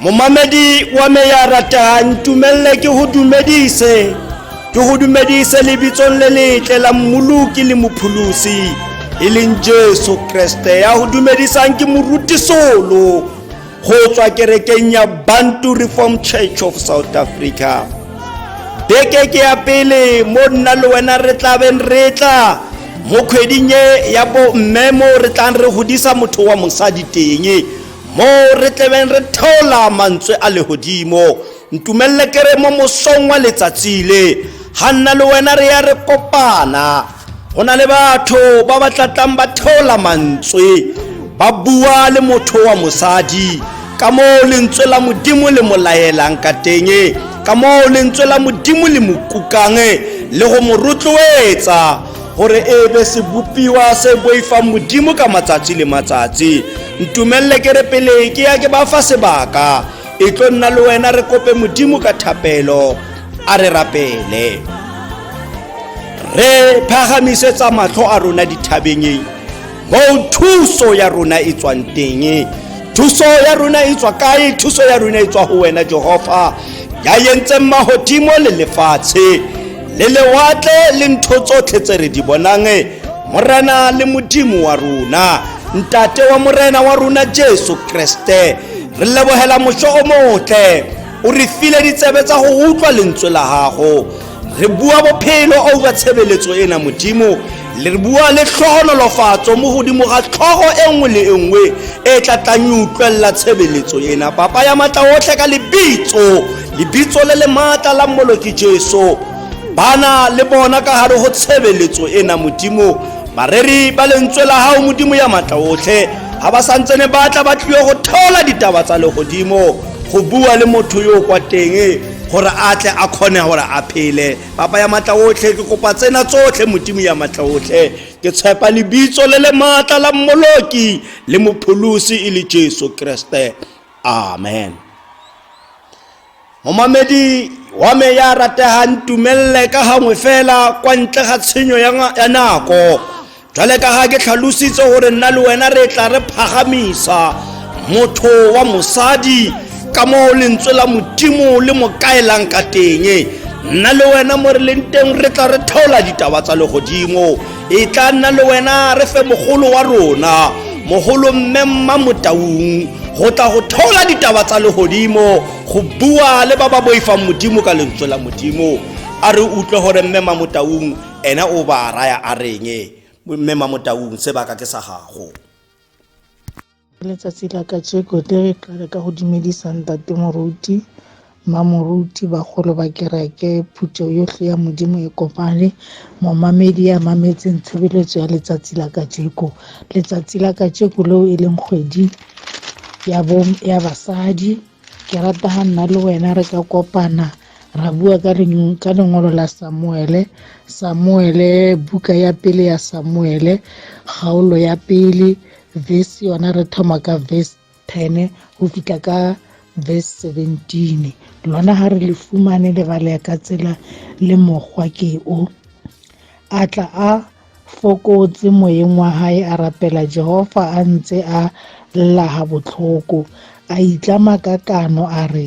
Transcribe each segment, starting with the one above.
momamedi wa me ya ratang tumelele ke go dumedise ke go dumedise lebitsong le letle la mmoloki le mopholosi e leng jesu kreste ya go dumedisang ke morutisolo go tswa kerekeng ya bantu reform church of south africa beke ke ya pele mo nna le wena re tlabeng re tla mo kgweding e ya bomme mo re tlang re godisa motho wa mosadi teng mo re tlebeng re theola mantswe a legodimo ntumelele kere mo mosong wa letsatsi le ga nna le wena re ya re kopana go na le batho ba ba tlatlang ba theola mantswe ba bua le motho wa mosadi ka moo lentswe la modimo le mo laelang ka teng ka moo lentswe la modimo le mo kukang le go mo rotloetsa gore e be sebopiwa se boifang modimo ka matsatsi le matsatsi ntumelele ke re pele ke ya ke ba fa sebaka e tlo nna le wena re kope modimo ka thapelo a re rapele re phagamisetsa matlho a rona dithabeng mo thuso ya rona e tswang teng thuso ya rona e tswa kae thuso ya rona e tswa go wena jehova ya yentseng magodimo le lefatshe le lewatle le ntho tsotlhe tse re di bonang morena le modimo wa rona ntate wa morena wa rona jesu kreste re lebogela moso o motle o re file ditsebe tsa go utlwa lentswe la gago re bua bophelo over tshebeletso ena modimo le re bua le tlhogonolofatso mo godimo ga tlhogo e nngwe le e nngwe e tla tlang e utlwelela tshebeletso ena papa ya maatla otlhe ka lebitso lebitso le le maatla la mmoloki jesu bana le bona ka gare go tshebeletso ena modimo bareri ba lentswe la gago modimo ya maatla otlhe ga ba santsene batla ba tlile go theola ditaba tsa legodimo go bua le motho yo kwa teng gore a tle a kgone gore a phele papa ya matla otlhe ke kopa tsena tsotlhe modimo ya matla otlhe ke tshepa lebitso le le maatla la mmoloki le mopholosi e le jesu kreste amen momamedi wa me ya rategang tumelele ka gangwe fela kwa ntle ga tshenyo ya nako Jwale ka ha ke tlhalositse hore nna le wena re tla re phagamisa motho wa mosadi ka moo lentswe la modimo le mo kaelang ka teng nna le wena mo re leng teng re tla re theola ditaba tsa legodimo e tla nna le wena re fe mogolo wa rona mogolo mme mma motaung go tla go theola ditaba tsa legodimo go bua le ba ba boifang modimo ka lentswe la modimo a re utlwe gore mme mamotaung Ene o baa raya a reng, Mme Mamotaung, sebaka ke sa gago? Ka letsatsi la kajeko, tle re qale ka go dumedisa Ntate Moruti, Mma Moruti, bagolo ba kereke, phuthego yotlhe ya Modimo e kopane, momamedi ya mametseng tshebeletso ya letsatsi la kajeko. Letsatsi la kajeko leo e leng kgwedi ya, ya basadi, ke rata ga nna le wena re ka kopana ra bua ka reng ka lengolo la samuele samuele buka ya pele ya samuele kgaolo ya pele verse yona re thoma ka verse 10 go fitlha ka verse 17 lona ga re le fumane lebale ya ka tsela le mokgwa ke o a tla a fokotse moyeng wa hae a rapela jehova a ntse a llaga botlhoko a itlama ka kano a re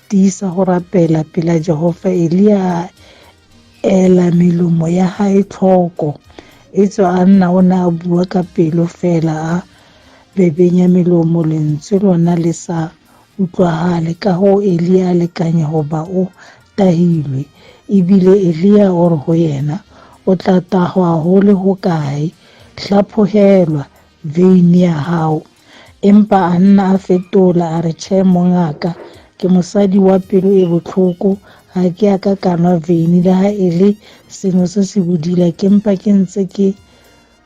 Tiisa go rapela pela Jehofa. Elia a ela melomo ya gae tlhoko. E tswa a nna o ne a bua ka pelo fela a bebenya melomo lentswe lona le sa utlwagale ka go Elia a lekanya go ba o tahilwe ebile Elia o re go yena o tla tahwa go le go kae hlaphogelwa veine ya gago empa a nna a fetola a re tšhe mongaka ke mosadi wa pelo e botlhoko ga ke a ka kanwa veine le ga e le sengwe se se bodila ke mpa ke ntse ke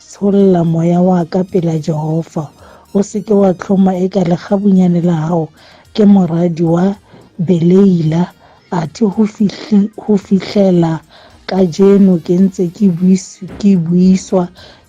tsholla moya wa ka pela jehova o seke wa tlhoma e ka legabunyane la gago ke moradi wa beleila a thi go fihlela ka jeno ke ntse ke buiswa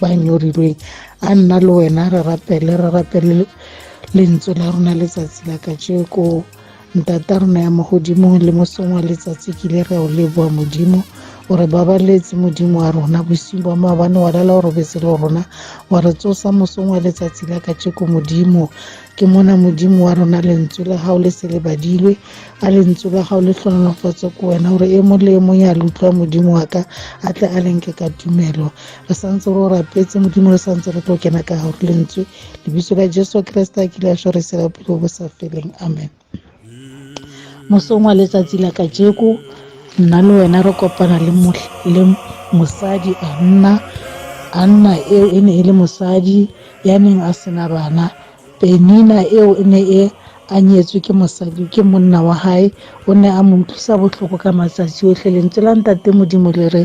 ba nyorilweng a nna le wena re rapele re rapele lentswe la rona letsatsi la kajeko ntata rona ya mo godimo le mosong wa letsatsi kile re o leboa modimo o re babaletse modimo wa rona bosing bwa maabane wa lala o robetse le rona wa re tsosa mosong wa letsatsi la kajeko modimo ke mona modimo wa rona lentswe la gago le se le badilwe a lentswe la gago le tlhonolofatse ko wena gore e mo le e mong ya le utlwa modimo wa ka a tle a lenke ka tumelo re santse re o rapetse modimo re santse re tlo kena ka gago lentswe lebiso la jesu kriste a kile a sho re sela bophelo bo sa feleng amen mosong wa letsatsi la ka jeko nna le wena re kopana le mosadi a nna a nna eo e ne e le mosadi ya neng a sena bana penina eo e ne e a nyetswe ke mosadi ke monna wa hae o ne a mo utlwisa botlhoko ka matsatsi otlhe lentswe la ntate modimo le re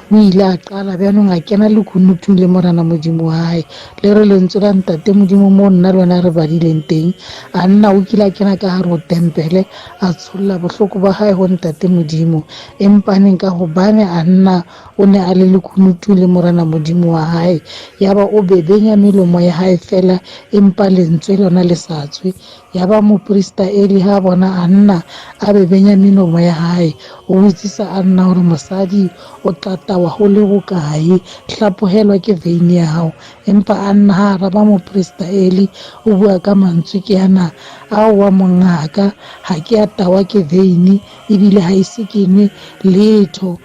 o ile a qala bjanong a kena lekunutung le morana modimo wa gae le re lentswe la ntate modimo mo nna le wena re badileng teng a nna o kile a kena ka gare go tempele a tsholola bohloko ba gae go ntate modimo empaneng ka gobane a nna o ne a le lekunutung le morana modimo wa gae yaba o bebenya melomo ya gae fela empa lentswe lona le sa tswe ya ba moporista eli ha bona a nna a be benyaminomo ya hae o botsisa a nna gore mosadi o tlatawa go le bokae hlapogelwa ke veine ya gago empa a nna ga araba moporista eli o bua ka mantswe ke yana ao wa mongaka ga ke a tawa ke veine ebile ga ise ke nwe letho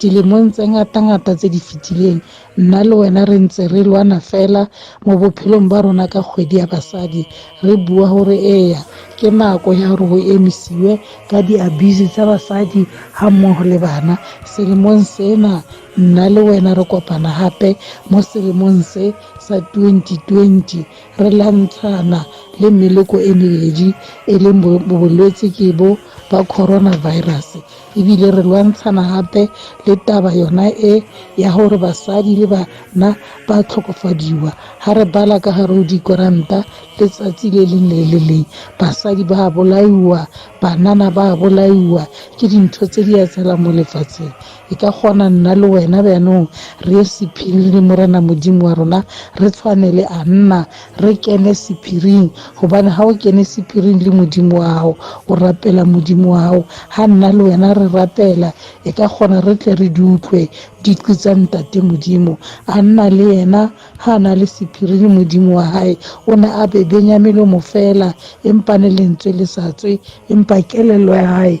Dilemong tse ngatangata tse di fetileng, nna le wena re ntse re lwana fela mo bophelong ba rona ka kgwedi ya basadi, re bua gore eya, ke nako ya gore go emisiwe ka di-abuse tsa basadi ga mmogo le bana. Selemong sena, nna le wena re kopana gape mo selemong se sa 2020, re lwantshana le meloko e mebedi, e leng bolwetse ke bo ba coronavirus. ebile re lwantshana gape le taba yona e ya gore basadi le bana ba tlhokofadiwa ga re bala ka gare o dikoranta letsatsi le leng le le leng basadi ba bolaiwa banana ba bolaiwa ke dintho tse di etsalang mo lefatsheng e ka kgona nna le wena bjanong re ye sephiri le morena modimo wa rona re tshwane le a nna re kene sephiring gobane ga o kene sephiring le modimo wa gago o rapela modimo wa gago ga nna le wena re rapela e ka kgona re tle re di utlwe diqi tsa ntate modimo a nna le yena ga a na le sephiri le modimo wa gae o ne a bebenya melomo fela empa ne lentswe le sa tswe empa kelelo ya gae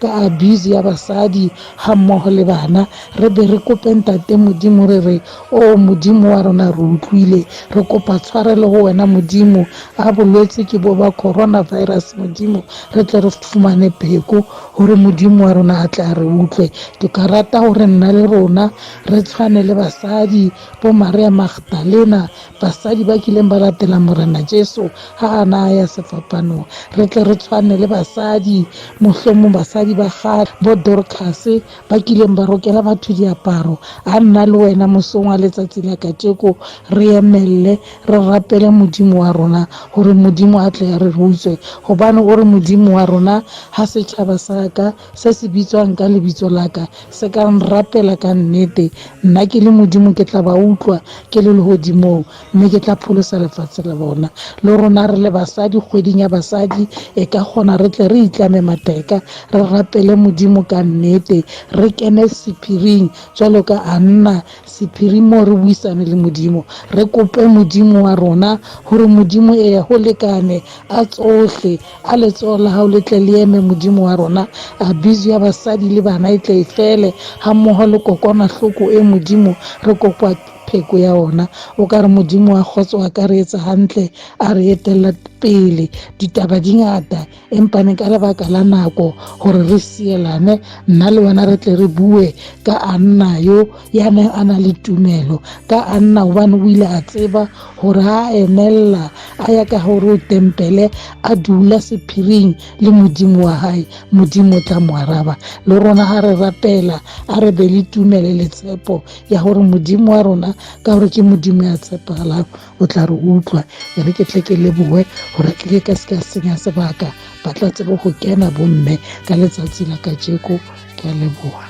ka abuse ya basadi ga mmogo le bana re be re kope ntate modimo re re o modimo wa rona re utlwile re kopa tshwarelo go wena modimo a bolwetse ke bo ba coronavirus modimo re tle re fumane pheko gore modimo wa rona a tla re utlwe ke ka rata gore nna le rona re tshwane le basadi bo maria magdalena basadi ba kileng ba latela morena jesu ga a na ya sefapano re tle re tshwane le basadi mohlomong basadi ba ga bo dorcas ba kileng ba rokela batho diaparo a nna le wena mosong wa letsatsi la kajeko re emelele re rapele modimo wa rona gore modimo a tle a re rutswe gobane o re modimo wa rona ga setšhaba sa ka Se se bitswang ka lebitso la ka se ka nrapela ka nnete, nna ke le Modimo ke tla ba utlwa ke le legodimong mme ke tla pholosa lefatshe le bona. Le rona re le basadi kgweding ya basadi e ka kgona re tle re itlame mateka re rapele Modimo ka nnete, re kene sephiring jalo ka Anna sephiring moo re buisane le Modimo, re kope Modimo wa rona gore Modimo ea go lekane a tsohle, a letsogo la gago le tle le eme modimo wa rona abiso ya basadi le bana e tle e fele ga mmogo le kokwanahloko e modimo re kopa pheko ya ona o ka re modimo wa kgotso a ka re etsa gantle a re etelela pele ditaba di ngata empane ka lebaka la nako gore re sielane nna le wena re tle re bue ka a nna yo ya neng a na le tumelo ka a nna gobane o ile a tseba gore ha a emelela a ya ka gore o tempele a dula sephiring le modimo wa hae modimo o tla mo araba le rona ga re rapela a re be le tumele le tshepo ya gore modimo wa rona ka gore ke modimo ya tshepegalang o tla re utlwa e re ke tle ke leboe gore ke ke ka se ka senya sebaka ba tla tsebo go kena bomme ka letsatsi la kajeko ke a leboa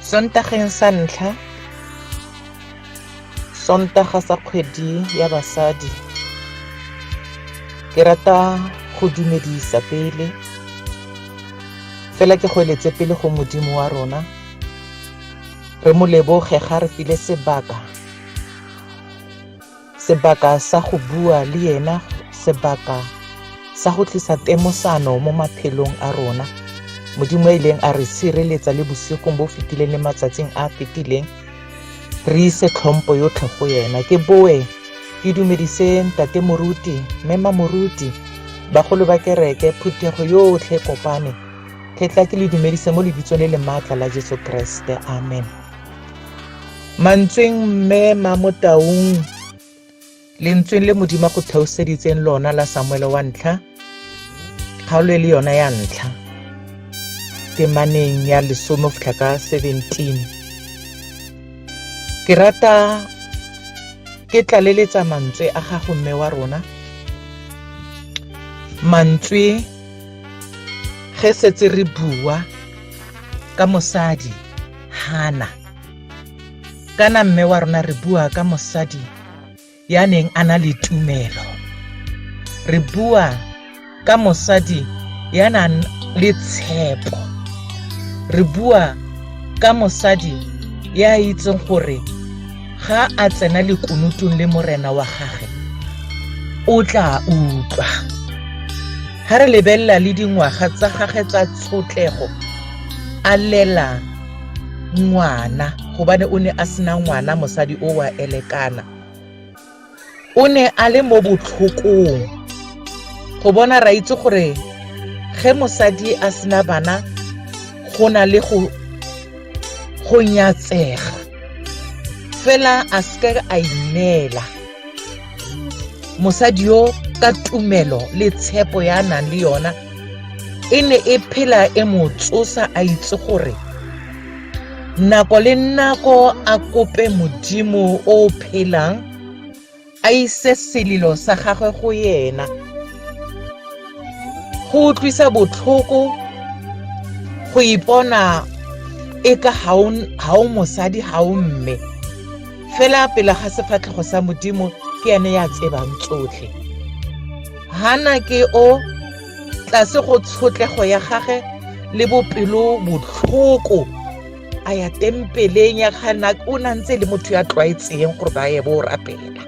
Sontageng sa ntlha, Sontaga sa kgwedi ya basadi, ke rata go dumedisa pele fela ke go eletse pele go modimo wa rona re mo leboge ga re file sebaka Sebaka sa go bua le yena, sebaka sa go tlisa temosano mo maphelong a rona. Modimo e leng a re sireletsa le bosigong bo fetileng le matsatsing a fetileng. Re ise tlhompo yotlhe go yena. Ke boe ke dumedise ntate moruti, mme mamoruti, bagolo ba kereke, phuthego yotlhe kopane. Ke tla ke le dumedise mo lebitsong le le maatla la Jesu Kriste. Amen. mantsweng mme ma mo taung lentsweng le modimo go theoseditseng lona la samuele wa ntlha kgaolo e le yona ya ntlha temaneng ya lesome go ka 17 ke rata ke tlaleletsa mantswe a gago mme wa rona mantswe ge setse re bua ka mosadi Hana. Kana mme wa rona re bua ka mosadi ya neng a na le tumelo. Re bua ka mosadi ya nang le tshepo. Re bua ka mosadi ya itseng gore ga a tsena lekunutong le morena wa gage o tla utlwa. ga re lebelela le dingwaga tsa gage tsa tshotlego a lela ngwana gobane o ne a sena ngwana mosadi o wa elekana o ne a le mo botlhokong go bona ra itse gore ge mosadi a sena bana go na le go go nyatsega fela a seke a ineela mosadi yo ka tumelo le tshepo ya a nang le yona e ne e phela e mo tsosa a itse gore nako le nako a kope modimo o o phelang a ise selilo sa gagwe go yena go utlwisa botlhoko go ipona e ka ga o mosadi ga o mme fela pele ga sefatlhego sa modimo ke ene ya tsebang tsotlhe hana ke o tlase go tshotlego ya gage le bopelo botlhoko a ya tempeleng ya gana o na ntse le motho ya tlwaetseng gore ba ye bo rapela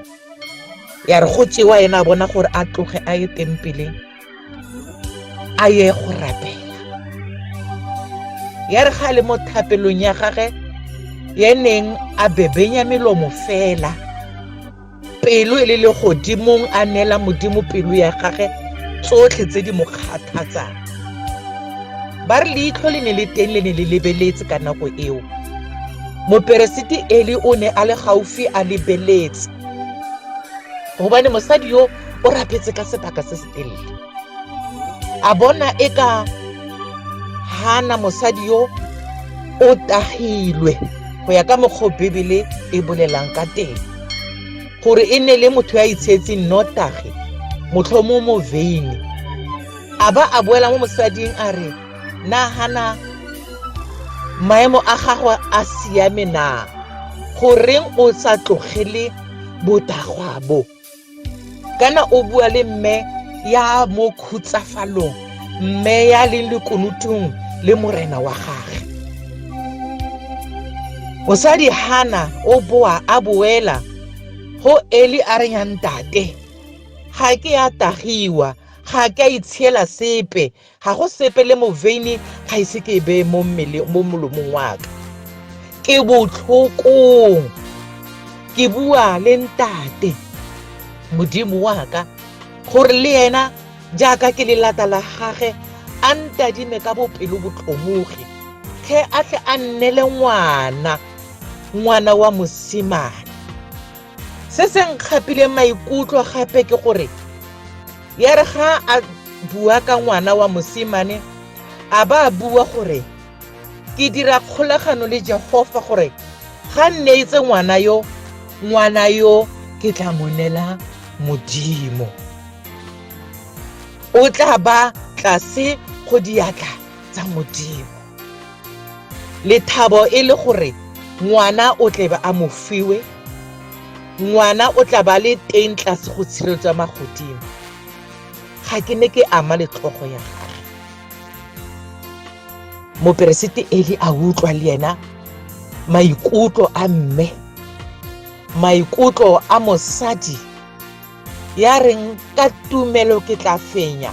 ya re go tsewa ena a bona gore a tloge a ye tempeleng a ye go rapela ya re ga le mo thapelong ya gage ya neng a bebenya melomo fela pelo e le le godimong a neela modimo pelo ya gage tsotlhe tse di mo kgathatsang ba re leitlho le ne le teng le ne le lebeletse ka nako eo moperesiti eli o ne a le gaufi a lebeletse gobane mosadi yo o rapetse ka sebaka se se telele a bona e ka hana mosadi yo o tagilwe go ya ka mokgwa o bebele e bolelang ka teng gore e ne le motho ya itsheetseng notagi motlhomo mo veine a ba a boela mo mosading a re nagana maemo a gagwe a siame na goreng o sa tlogele botagwa bo kana o bua le mme ya mo khutsafalong mme ya leng lekunutung le morena wa gage mosadi hana o boa a boela go eli a reng ya ntate ga ke ya tagiwa ga ke a itshiela sepe ga go sepe le moveine ga ise ke e beye mo mmele mo molomong wa ka ke botlhokong ke bua le ntate modimo wa ka gore le yena jaaka ke le lata la gage a ntadime ka bopelo botlhomogi tlhe a tle a nnele ngwana ngwana wa mosimane se se nkgapileng maikutlo gape ke gore ya re ga a bua ka ngwana wa mosimane a ba a bua gore ke dira kgolagano le jehofa gore ga nne etse ngwana yo ngwana yo ke tla monela modimo o tla ba tlase go diatla tsa modimo lethabo e le gore ngwana o tlebe a mo fiwe ngwana o tla ba le teng tlase go tshireletswa magodimo ga ke ne ke ama letlhogo ya gage moperesete eli a utlwa le ena maikutlo a mme maikutlo a mosadi ya reng ka tumelo ke tla fenya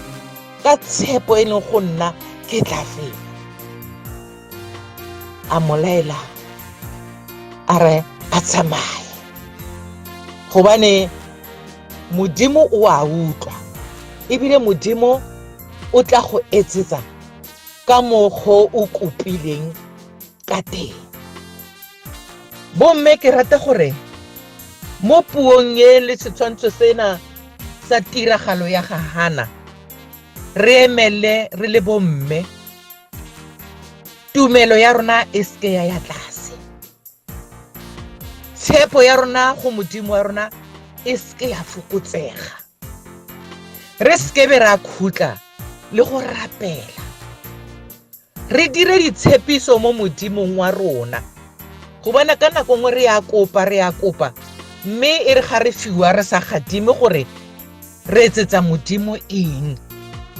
ka tshepo e leng go nna ke tla fela a molaela a re a tsamaye gobane modimo o a utlwa ebile modimo o tla go etsetsa ka mokgo o kopileng ka teng bomme ke rata gore mo puong e le setshwantsho sena sa tiragalo ya ga hana re emele re le bomme tumelo ya rona e seke ya ya tlase tshepo ya rona go modimo wa rona e seke ya fokotsega re sekebe ra khutla le go rapela re dire ditshepiso mo modimong wa rona go bona ka nako nngwe re ya kopa re ya kopa mme e re ga re fiwa re sa gadime gore re etsetsa modimo eng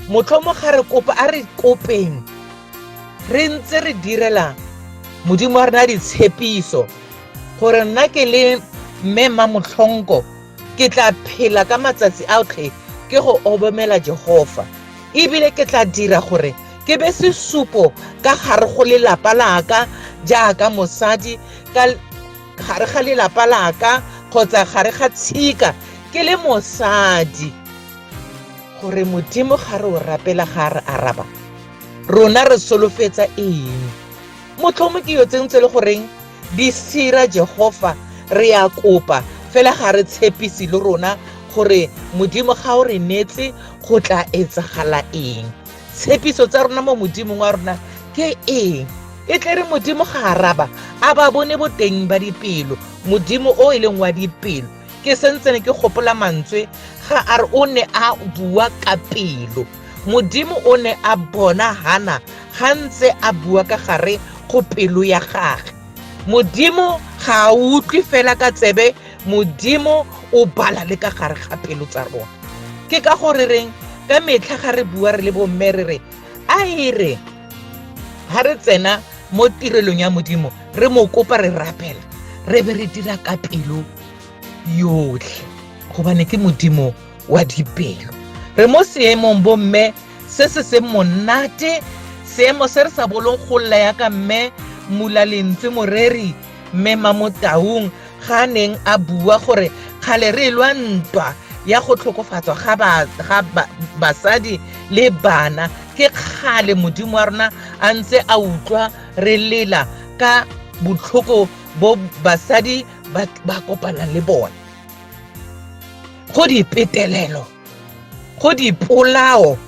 motlhomo ga re kopa a re kopeng re ntse re direla modimo wa rena ditshepiso gore nna ke le mme mma motlhonko ke tla phela ka matsatsi a otlhe ke go obamela jehova ebile ke tla dira gore Ke be sesupo ka gare go lelapa laka jaaka mosadi ka gare ga lelapa laka kgotsa gare ga tshika ke le mosadi gore modimo ga re o rapela ga re araba rona re solofetsa eng motlhomo ke yo tsentse le goreng di sira jehofa re ya kopa fela ga re tshepise le rona gore modimo ga o re neetse go tla etsagala eng tshepiso tsa rona mo modimong wa rona ke eng e tle re modimo ga araba a ba bone boteng ba dipelo modimo o e leng wa dipelo ke sentsene ke gopola mantswe ga a re o ne a bua ka pelo modimo o ne a bona hana ga ntse a bua ka gare go pelo ya gage modimo ga a utlwe fela ka tsebe Modimo o bala le ka gare ga pelo tsa rona. Ke ka gore reng ka metlha ga re bua re le bomme re re a e re ga re tsena mo tirelong ya modimo re mo kopa re rapela re be re dira ka pelo yotlhe gobane ke modimo wa dipelo re mo seemong bomme se se se monate seemo se re sa bolong go lla yaka mme mula lentswe moreri mme mamotaung ga a neng a bua gore kgale re lwa ntwa ya go tlhokofatswa ga basadi le bana ke kgale modimo wa rona a ntse a utlwa re lela ka botlhoko bo basadi ba kopanang le bone go dipetelelo go dipolao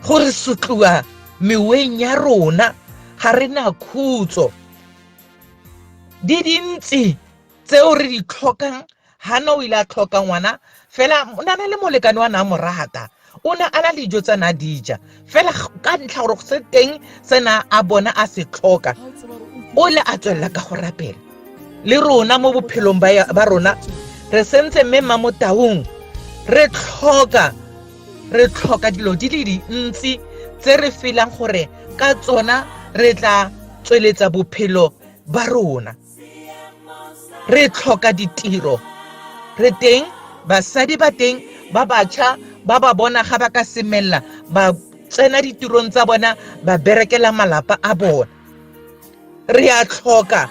go re sotliwa meweng ya rona ga re na khutso di dintsi tseo re di tlhokang hana o ile a tlhoka ngwana fela o na le molekane wa na mo rata o ne a na le dijo tsa na dija fela ka ntlha gore se teng se na a bona a se tlhoka o le a tswelela ka go rapela le rona mo bophelong ba rona re sentse mme mmamotaung re tlhoka re tlhoka dilo di le dintsi tse re felang gore ka tsona re tla tsweletsa bophelo ba rona re tlhoka ditiro re teng basadi ba teng ba batšha ba ba bona ga ba ka semelela ba tsena ditirong tsa bona ba berekela malapa a bona re a tlhoka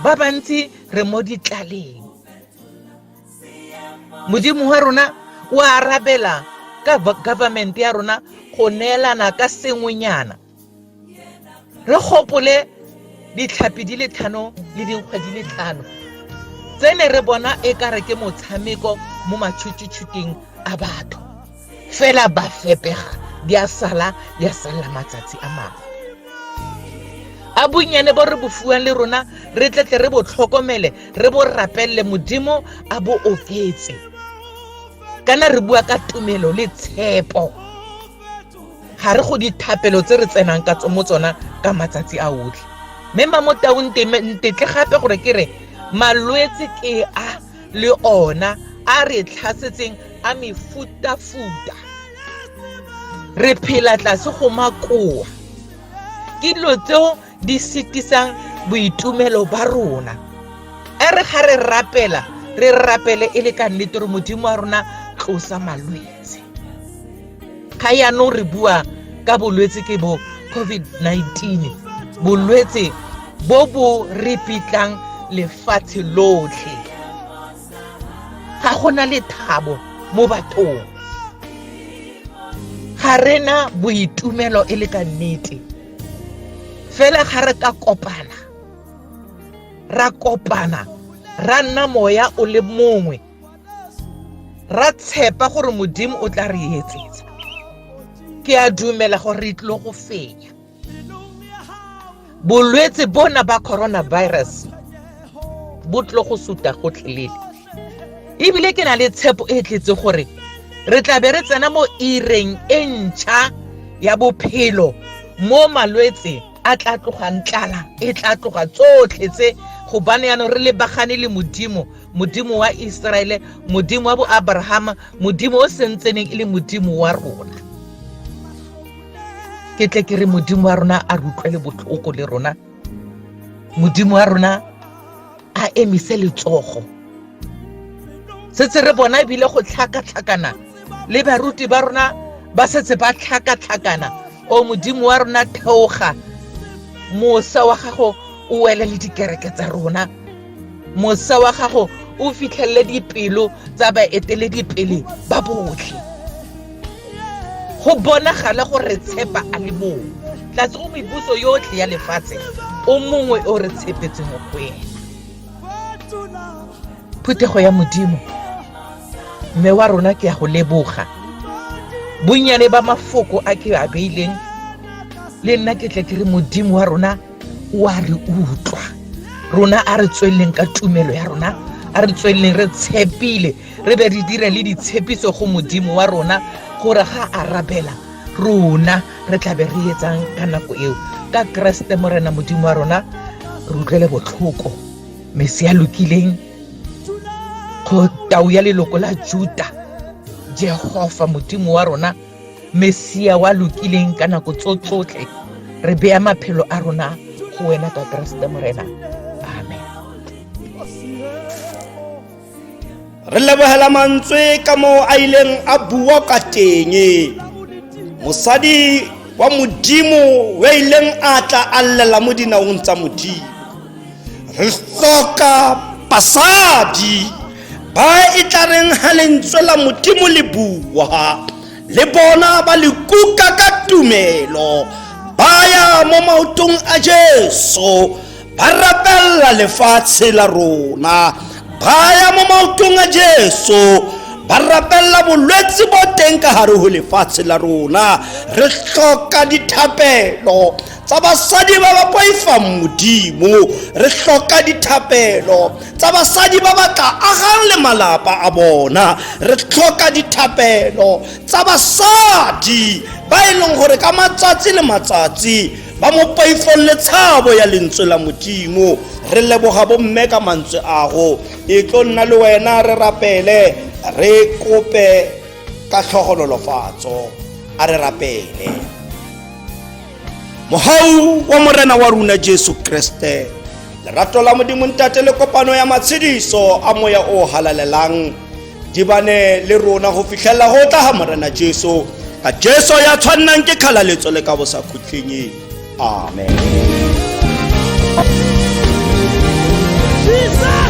ba bantsi re mo ditlaleng modimo wa rona o arabela ka government ya rona go neelana ka sengwenyana re gopole ditlhapi di le tlhano le dinkgwa di le tlhano tse ne re bona e kare ke motshameko mo matšhutšutšhuteng a batho fela ba fepega di a sala di a salela matsatsi a mangwe a bonnyane bo re bo fuwang le rona re tletle re bo tlhokomele re bo rapelele modimo a bo oketse kana re bua ka tumelo le tshepo ga re go dithapelo tse re tsenang ka mo tsona ka matsatsi a otlhe mme mamotaung ntetle gape gore ke re malwetse ke a le ona a re tlhasetseng a mefutafuta re phela tlase go makoa ke dilo tseo di setisang boitumelo ba rona e re ga re rapela re rapele e le ka nnete gore modimo wa rona tlosa malwetse ga yaanong re bua ka bolwetse ke bo covid-19 bolwetse bo bo re pitlang lefatshe lotlhe ga gona lethabo mo bathong ga rena boitumelo e le ka nnete fela ga re ka kopana ra kopana ra nna moya o le mongwe ra tshepa gore modimo o tla re etsetsa ke a dumela gore re tlo go fenya bolwetse bona ba coronavirus bo tlo go suta gotlhelele ebile ke na le tshepo e tletse gore re tla be re tsena mo ireng e ntšha ya bophelo mo malwetse a tla tlogang tlala e tla tloga tsotlhe tse gobane yaanong re lebagane le modimo modimo wa iseraele modimo wa boabrahama modimo o sentseneng e le modimo wa rona ke tle ke re modimo wa rona a re utlwele botlhoko le rona modimo wa rona a emise letsogo setse re bona ebile go tlhakatlhakana le baruti ba rona ba setse ba tlhakatlhakana o modimo wa rona theoga mosa wa gago o wele le dikereke tsa rona mosa wa gago o fitlhelele dipelo tsa baeteledipele ba botlhe go bonagale go re tshepa a le mongwe tlatse go mebuso yotlhe ya lefatshe o mongwe o re tshepetse mo go ena phuthego ya modimo mme wa rona ke ya go leboga bonnyane ba mafoko a ke a beileng le nna ke tle ke re modimo wa rona o a re utlwa rona a re tsweleleng ka tumelo ya rona a re tsweleleng re tshepile re be re dire le ditshepiso go modimo wa rona gore ga a rabela rona re tlabe re etsang ka nako eo ka keresete morena modimo wa rona re utlwele botlhoko mese ya lokileng go tau ya leloko la juta jehova modimo wa rona mesia wa lokileng ka nako tso tsotlhe re beya maphelo a rona go wena ka keresete morena re lebogela mantswe ka moo a ileng a bua ka teng mosadi wa modimo wa ileng a tla a llela mo dinaong tsa modimo re tlhoka basadi ba e tla reng ga lentswe la modimo le bua le bona ba le kuka ka tumelo ba ya mo maotong a jesu ba rapelela lefatshe la rona ba ya mo maotong a jesu ba rapelela bolwetse bo teng ka gare go lefatshe la rona re tlhoka dithapelo tsa basadi ba ba poifang modimo re tlhoka dithapelo tsa basadi ba ba tla agang le malapa a bona re tlhoka dithapelo tsa basadi ba e leng gore ka matsatsi le matsatsi ba mo paifolle tshabo ya lentswe la modimo re leboga bomme ka mantswe ago e tlo nna le wena re rapele re kope ka tlhogololofatso a re rapele mogau wa morena wa rona jesu kriste lerato la modimo ntate le kopano ya matshediso a moya o halalelang di bane le rona go fitlhelela go tla ga morena jesu ka jesu ya tshwannang ke kgalaletso le ka bosakhutlheng amen Jesus!